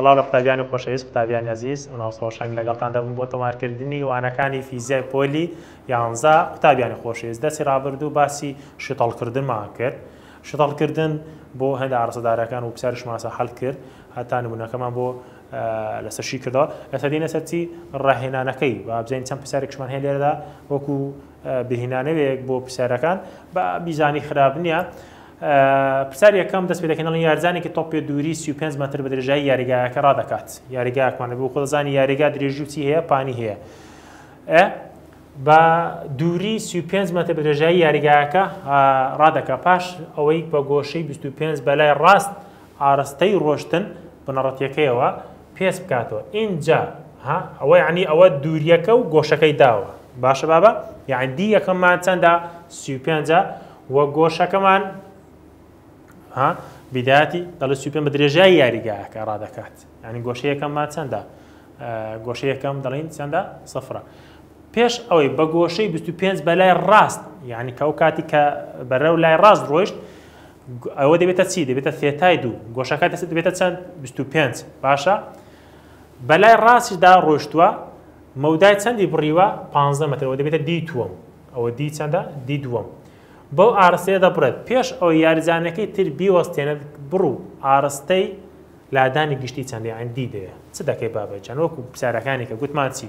سڵاو لە قوتابیانی خۆشەویست قوتابیانی ئەزیز مناڵ سۆشەنگ لەگەڵتان دەبم بۆ تۆمارکردنی وانەکانی فیزیای پۆلی یانزە قوتابیانی خۆشەویست دەسی ڕابردوو باسی شتەڵکردنمان کرد شتەڵکردن بۆ هەندە ئارسەدارەکان و پسیارش ماسە حەل کرد هەتا نمونونەکەمان بۆ لەسەر شی کردەوە لەسەدینە سەرچی ڕاهێنانەکەی بابزین چەند پرسیارێکشمان هەیە لێرەدا وەکو بهینانەوێک بۆ پرسیارەکان با بیزانی خراپ نییە پرسیار یەکەم دەست پێدەکەنڵی یارزانێکی تۆپێ دووری 35 متر بە درێژایی یاریگایەکە ڕادەکات یاریگاکمانە بۆ خۆزانی یاریگا درێژی چی هەیە پانی هەیە بە دووری 35 متر بە درێژایی یاریگایەکە ڕادەکە پاش ئەوەی بە گۆشەی 25 بەلای ڕاست ئارەستەی ڕۆشتن بنەڕەتیەکەیەوە پێس بکاتەوە ئینجا ها ئەوە یەعنی ئەوە دووریەکە و گۆشەکەی داوە باشە بابە یەعنی دی یەکەمان چەندە سی و پێنجە و گۆشەکەمان ها بداتی دەڵێ سی و پێنج بە درێژای یاریگاکە ڕادەکات یعنی گۆشەیەکەمان چەندە گۆشەیەکەم دەڵین چەندە سفرە پێش ئەوەی بە گۆشەی 25 بە لای ڕاست یعنی کە ئەو کاتی کە بەرەو لای ڕاست ڕۆیشت ئەوە دەبێتە چی دەبێتە ثێتای دوو گۆشەکە دەست دەبێتە چەند 25 باشە بەلای ڕاستیدا ڕۆشتووە مەودای چەندی بڕیوە 15 مترەوە دەبێتە دی تووەم ئەوە دی چەندە دی دووەم بەو ئارستەیە دەبڕێت پێش ئەو یاریزانەکەی تر بیوەستێنێت بڕ و ئارستەی لادانی گشتی چەندی ئەندی دەیە چ دەکەی بابەجان وەکو پرسیارەکانی کە گوتمان چی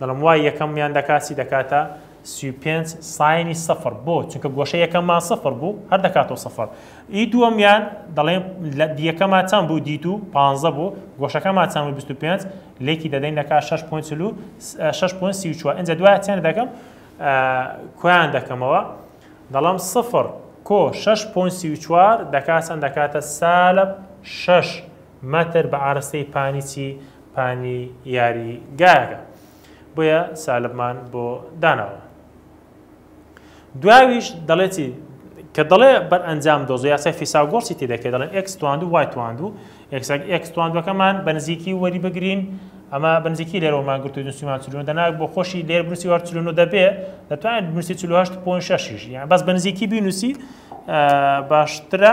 دەڵێم وای یەکەم یان دەکات چی دەکاتە سی و پێنج ساینی سەفر بۆ چونکە گۆشە یەکەممان سەفر بوو هەر دەکاتەوە سەفر ئی دووەمیان دەڵێم لە دیەکەمان چەند بوو دیت و پانزە بوو گۆشەکەمان چەند بیست و پێنج لێکی دەدەین دەکات شش پوین چلو شش پوین سی و چوار ئەجا دوای چەند دەکەم کویان دەکەمەوە دەڵێم سەفر کۆ شش پوین سی و چوار دەکات چەند دەکاتە سالب شش مەتر بە ئاراستەی پانی چی؟ پانی یاری گایەکە. بۆیە سالبمان بۆ داناوە. دوایویش دەڵێ چی؟ کە دەڵێ بەر ئەنجام دۆزە یاسای فیساگۆرسی تی دەکەێت دەڵێن ئەکس تواند و وای تواند و ئەکس تواندەکەمان بە نزیکی وەری بگرین ئەمە بنزیکی لێرەوەمان گرتو نووسیمان چلون دەناک بۆ خۆشی لێر بنووسی وار چلون و دەبێ دەتوانێت بنووسی چلوهشت پۆن شەشیش یان بەس بنزیکی بینووسی باشترە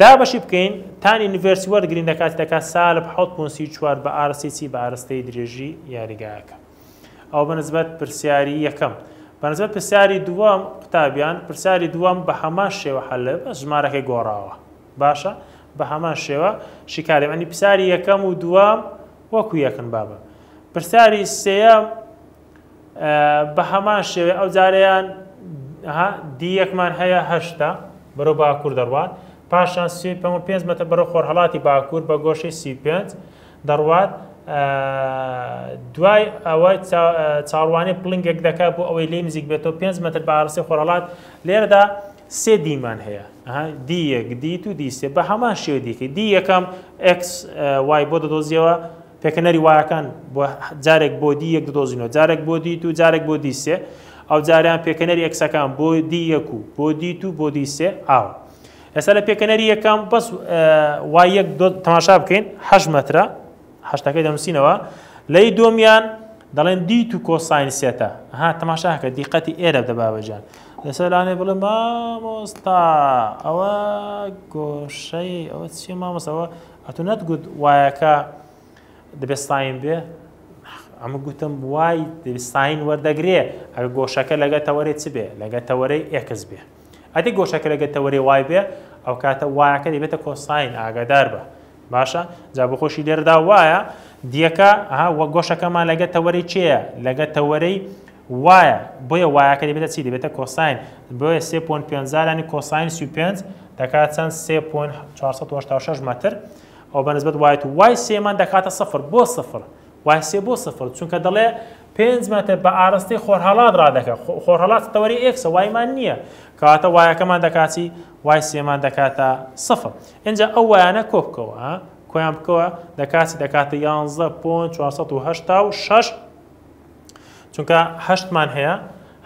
دابەشی بکەین تانی نڤێرسی وەرگرین لە کاتی دەکات سالب حەوت پوون سی و چوار بە ئارەستەی چی بە ئارەستەی درێژی یاریگایەکە ئەوە بە نسبەت پرسیاری یەکەم بە نسبەت پرسیاری دووەم قوتابیان پرسیاری دووەم بە هەمان شێوە حەلە بەس ژمارەکەی گۆڕاوە باشە بە هەمان شێوە شیکاری بەنی پرسیاری یەکەم و دووەم وەکو یەکن بابە پرسیاری سێەم بە هەمان شێوەی ئەو جارەیان ها دی یەکمان هەیە هەشتە بەرەو باکوور دەڕوات پاشان سی پێ و پێنج مەتر بەرەو خۆرهەڵاتی باکوور بە گۆشەی سی و پێنج دەڕوات دوای ئەوە چاڕوانی پڵنگێک دەکات بۆ ئەوەی لێ نزیک بێتەوە پێنج مەتر بە ئاڕسی خۆرهەڵات لێرەدا سێ دیمان هەیە دی یەک دی تو دی سێ بە هەمان شێوە دیکە دی یەکەم ئەکس وای بۆ دەدۆزیەوە پێکهێنەری وایەکان بۆ جارێک بۆ دی یەک دۆزینەوە جارێک بۆ دی دوو جارێک بۆ دی سێ ئەو جاریان پێکەنەری ئەکسەکان بۆ دی یەک و بۆ دی تو بۆ دی سێ ئاوە ئێستا لە پێکەنەری یەکەم بەس وای یەک تەماشا بکەین هەش مەترە هەشتەکەی دەنووسینەوە لەی دۆمیان دەڵێن دی تو کۆساین سێتە ها تەماشاکە دیقەتی ئێرە دەباوەجان لەسەر لانێ بڵێ مامۆستا ئەوە گۆشەی ئەوە چی مامۆستەوە ئەتو نەتگوت وایەکە دەبێت ستاین بێ ئەمە گوتم وای ستاین وەردەگرێ ئەگە گۆشەکە لەگە تەوەێ چ بێ لەگە تەوەرەی ئێکس بێ ئەدی گۆشەکە لەگە تەوەێ وای بێ ئەو کاتە وایەکە دەبێتە کۆساین ئاگادار بە باشە جا بە خۆشی لێردا وایە دیەکە وە گۆشەکەمان لەگە تەوەری چێە لەگە تەوەرەی وایە بۆیە وایەکە دەبێتە چی دەبێتە کۆساین بۆیە سێ پۆن پێنجا لانی کۆساین سی و پێنج دەکات چەند سێ پۆن چوار سەد و هەشتا و شەش مەتر ئەو بە نسبەت وای تو وای سێمان دەکاتە سفر بۆ سفر وای سێ بۆ سفر چونکە دەڵێ پێنج مەتر بە ئاراستەی خۆرهەڵات ڕادەکە خۆ- خۆرهەڵات تەوەری ئێکسە وایمان نییە کەواتە وایەکەمان دەکات چی وای سێمان دەکاتە سفر ئینجا ئەو وایانە کۆ بکەوە ها کۆیان بکەوە دەکات چی دەکاتە یانزە پۆن چوار سەد و هەشتا و شەش چونکە هەشت مان هەیە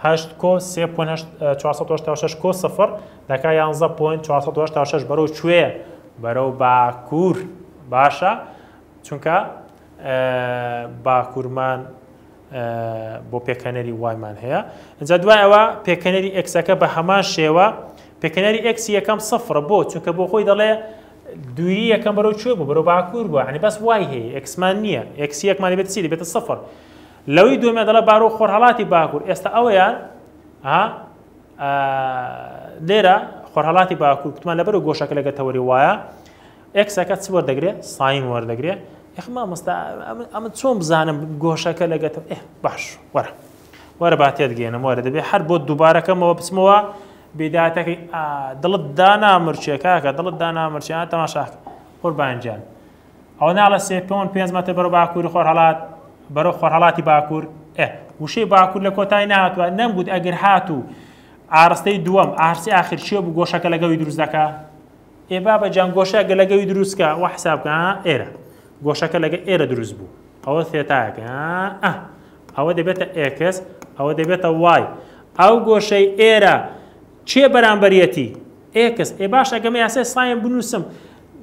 هەشت کۆ سێ پۆن هەشت چوار سەد و هەشتا و شەش کۆ سفر دەکا یانزە پۆن چوار سەد و هەشتا و شەش بەرەو کوێ بەرەو باکوور باشە چونکە باکوورمان بۆ پێکەنەری وایمان هەیە جا دوایەوە پێکەنەری ئەکسەکە بە هەمان شێوە پێکەنەری ئەکسی یەکەم سفر بۆ چونکە بۆ خۆی دەڵێ دووری یەکەم بەرەو کوێ بوو بەرەو باکوور بوو یعنی بەس وای هەیە ئێکسمان نییە ئێکسی یەکمان دەبێت چی دەبێتە سفر لەوەی دووەمە دەڵە بارۆ خۆرهەڵاتی باکوور ئێستا ئەوەیە لێرە خۆرهەڵاتی باکوور کوتمان لەبەر و گۆشەکە لەگە تەوەری وایە ئەکسەکە چ وەردەگرێت ساین وەردەگرێت یخ مامۆستا ئەمە چۆن بزانم گۆشەکە لەگەتم ئێ باش وەرە وەرە با تێدگەێنم وەرە دەبێت هەر بۆ دووبارەکەمەوە بچمەوە بیداتەکەی ئا دڵت دانامرچێ کاکە دڵت دانامرچێ ئا تەماشاکە قوربان گیان ئەوە ناڵە سێ پۆن پێنج مەتر بەرەو باکووری خۆرهەڵات بەرەو خۆرهەڵاتی باکوور ئێ وشەی باکوور لە کۆتای نهاتوە نەمگوت ئەگەر هاتوو ئارستەی دووەم ئارسی ئاخر چێ بوو گۆشەکە لەگەڵی دروست دەکا ئێ بابە جان گۆشەکە لەگەوی دروستکە وە حسابکە ئێرە گۆشەکە لەگە ئێرە دروست بوو ئەوە ثێتایەکە ئە ئەوە دەبێتە ئێکس ئەوە دەبێتە وای ئەو گۆشەی ئێرە چێ بەرامبەرەتی ئێکس ئێ باش ئەگەمە یاسای سایم بنووسم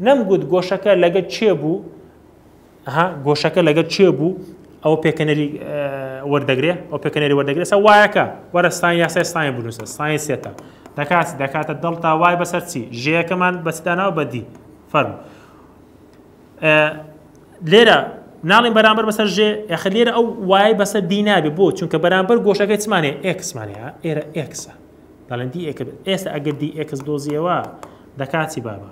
نەمگوت گۆشەکە لەگە چێ بوو ئەها گۆشەکە لەگەل کێ بوو ئەوە پێکەنەری وەردەگرێ ئەو پێکەنەری وەردەگرێت سە وایەکە وەرە ساین یاسای ساین بنووسە ساین سێتە دەکات دەکاتە دڵتا وای بەسەر چی ژەیەکەمان بەسداناو بەدی فەرم لێرە ناڵین بەرامبەر بەسەر ژێ یاخە لێرە ئەو وای بەسەر دی نابێ بۆ چونکە بەرامبەر گۆشەکە چمانێ ئێکسمانە ئێرە ئێکسە دەڵێن دی ئێکرد ئێستا ئەگەر دی ئێکس دۆزیەوە دەکاتی بابە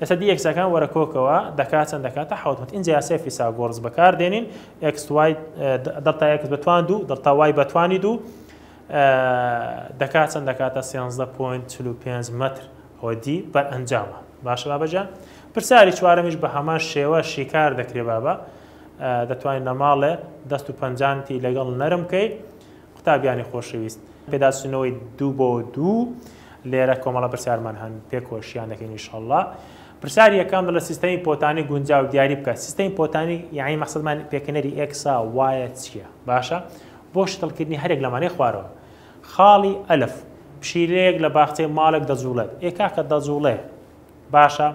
ئێستا دی ئێکسەکان وەرە کۆکەوە دەکا چەند دەکاتە حەوت مەت ئینجا یاسای فیساگۆڕس بەکار دێنین ئێکس وای دەڵتا ئێکس بە توان دوو دەڵتا وای بە توانی دوو دەکات چەند دەکاتە سێنزدە پۆینت چل و پێنج مەتر ئەوە دی بەر ئەنجامە باشە بابەجان پرسیاری چوارەمیش بە هەمان شێوە شیکار دەکرێ بابە دەتوانین لە ماڵێ دەست و پەنجانتی لەگەڵ نەرم بکەیت قوتابیانی خۆشەویست، پێداچوونەوەی دوو بۆ دوو لێرە کۆمەڵە پرسیارمان هەن پێکۆشیان دەکەین ان شاء اللە. پرسیاری یەکەم دەڵێت سیستەمی پۆتانی گونجاو دیاری بکە سیستەمی پۆتانی یانی مەقسەدمان پێکەنەری ئێکسا وایە چییە باشە بۆ شتڵکردنی هەرێک لەمانەی خوارەوە خاڵی ئەلف پشیلەیەک لە باخچەی ماڵێک دەجوڵێت ئێ کاکە دەجوڵێ باشە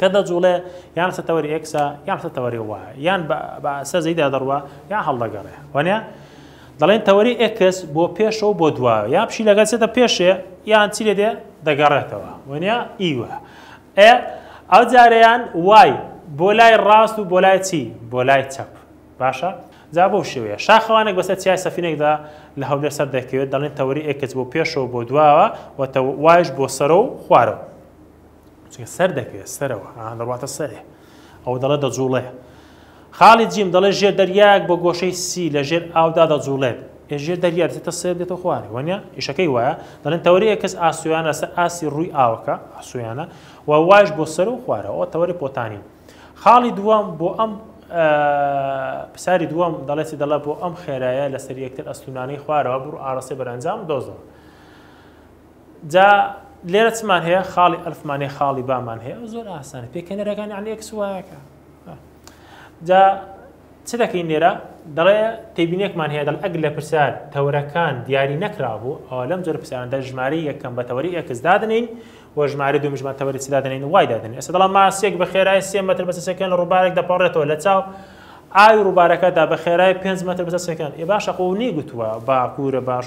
کە دەجووڵێ یان سە تەوەری ئێکسە یان سە تەوەری وایە یان بە بە سە زەیدا دەڕوا یان هەڵدەگەڕێ وانە دەڵێن تەوەری ئێکس بۆ پێشەوە بۆ دوا یا پشی لەگەل سێتە پێشێ یان چی لێ دێ دەگەڕێتەوە وانە ئیوە ئێ ئەو جارەیان وای بۆ لای ڕاست و بۆ لای چی بۆ لای چەپ باشە جا بۆ شێوەیە شاخەوانێک بەسەر چیای سەفینێکدا لە هەولێر سەر دەکەوێت دەڵێن تەوەری ئێکس بۆ پێشەوە بۆ دواوە و وایش بۆ سەرە و خوارەوە چونکە سەر دەکەوێت سەرەوە ها دەڕواتە سەرێ ئەوە دەڵێت دەجوڵێ خاڵی جیم دەڵێت ژێر دەریاک بۆ گۆشەی سی لە ژێر ئاودا دەجوڵێت ژێر دەریا دێتە سێر دێتە خوارێ وەنە ئیشەکەی وایە دەڵێن تەوەری ئەکەس ئاسویانە سەر ئاسی ڕووی ئاوەکە ئاسویانە و واش بۆ سەر و خوارەوە تەوەری پۆتانین خاڵی دووەم بۆ ئەم پساری دووەم دەڵێتی دەڵە بۆ ئەم خێرایە لەسەر یەکتر ئەستونانەی خوارەوە بڕ ئارەسەی بەرەنجام دۆزەوە جا لێرە چمان هەیە خاڵی ئەلفمان هەیە خاڵی بامان هەیە زۆر ئاسانە پێکەنەرەکانی علی ئەکس وایەکە جا چ دەکەین لێرە دەڵێ تێبینێکمان هەیە دەڵ ئەگ لە پرسیار تەورەکان دیاری نەکرابوو ئەوە لەم جۆر پرسیاردا ژماری یەکەم بە تەوەری ئەکس دادنین و ژماری دوو مژمان تەوەری چ دادنین وای دادنین ئێستا دەڵام ماسێک بە خێرای سێ مەتر بەسە سەکەن لە ڕووبارێک دەپەڕێتەوە لە چاو ئاوی ڕووبارەکەدا بە خێرای پێنج مەتر بەسە سەکەن ئێ باشە قوونی گوتووە باکوورە باش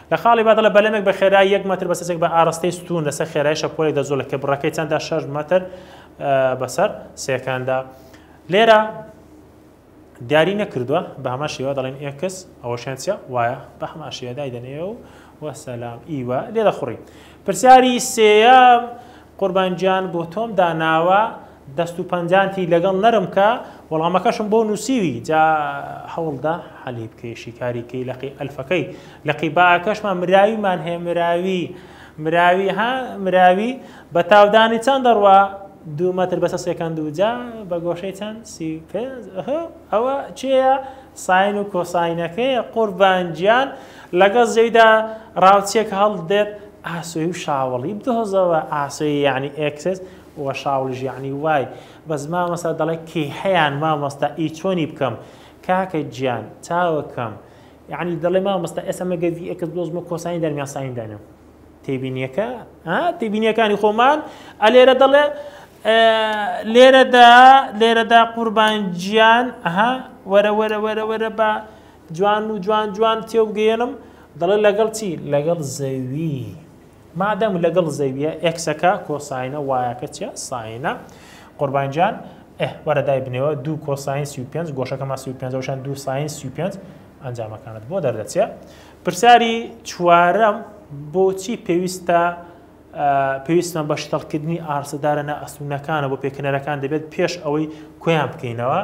لە خاڵی بادە لە بەلەمێک بە خێرایی یەک مەتر بەسەر سێکبە ئاڕەستەی ستوون لەسەر خێرایی شەپۆلێک دەجوڵێ کە بڕەکەی چەندە شەش مەتر بەسەر سێکەندە لێرە دیاری نەکردووە بە هەما شێوە دەڵێن ئێکس ئەوەشیان چە وایە بە هەما شێدای دەنێ و وەسەلام ئیوە لێ دەخڕی پرسیاری سێە قوربان گیان بۆ تۆم داناوە دەست و پەنجانتی لەگەڵ نەرم کە وەڵامەکەشم بۆ نووسیوی جا هەوڵدە حەلی بکەی شیکاریکەی لەقی ئەلفەکەی لەقی باکەشمان مراویمان هەیە مراوی مراوی ها مراوی بە تاودانی چەند دەڕوا دوو مەتر بەسە سێکەند و جا بە گۆشەی چەند سی ئەوە کێیە ساین و کۆساینەکەیە قوربان گیان لەگەڵ زەیدا ڕاوچیەک هەڵدێت ئاسۆی و شاوەڵی بدۆزەوە ئاسۆی یەعنی ئێکس وە شاوڵیش یەعنی وای بەس مامۆستا دەڵێ کیهەیان مامۆستا ئی چۆنی بکەم کاکە گیان چاوەکەم یەعنی دەڵێ مامۆستا ئێستا مەگەر ڤی ئێکس بدۆزمەوە کۆساین دەرمیان ساین دەنێم. تێبینیەکە ها تێبینیەکانی خۆمان ئەلێرە دەڵێ لێرەدا لێرەدا قوربان گیان ئەها وەرە وەرە وەرە وەرە بە جوان و جوان جوان تێوگەێنم دەڵێ لەگەڵ چی لەگەڵ زەوی مادەم لەگەڵ زەویە ئەکسەکە کۆساینە وایەکە چە ساینە قوربان گیان وەرەدای بنەوە دوو کۆساین سی پێ گۆشەکەمان سی پێشان دوو ساین سی پێ ئەنجامەکانت بۆ دەردەچێت پرسیاری چوارەم، بۆچی پێویستە پێویستمان بە شتەڵکردنی ئاڕستە دارنە ئەسوونەکانە بۆ پێکەنەرەکان دەبێت پێش ئەوەی کویان بکەینەوە؟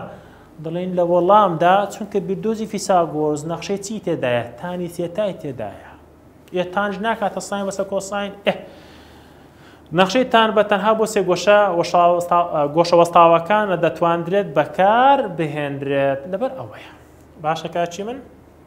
دەڵێن لە وەڵامدا چونکە بیردۆزی فیساگۆرز نەخشەی چی تێدایە تانی تێتای تێدایە ئێ تانج ناکاتە ساین بەسە کۆساین ئێ نەخشەی تان بە تەنها بۆ سێ گۆشە گۆشە وەستاوەکانە دەتواندرێت بەکار بهێنرێت لەبەر ئەوەیە باشەکە چی من؟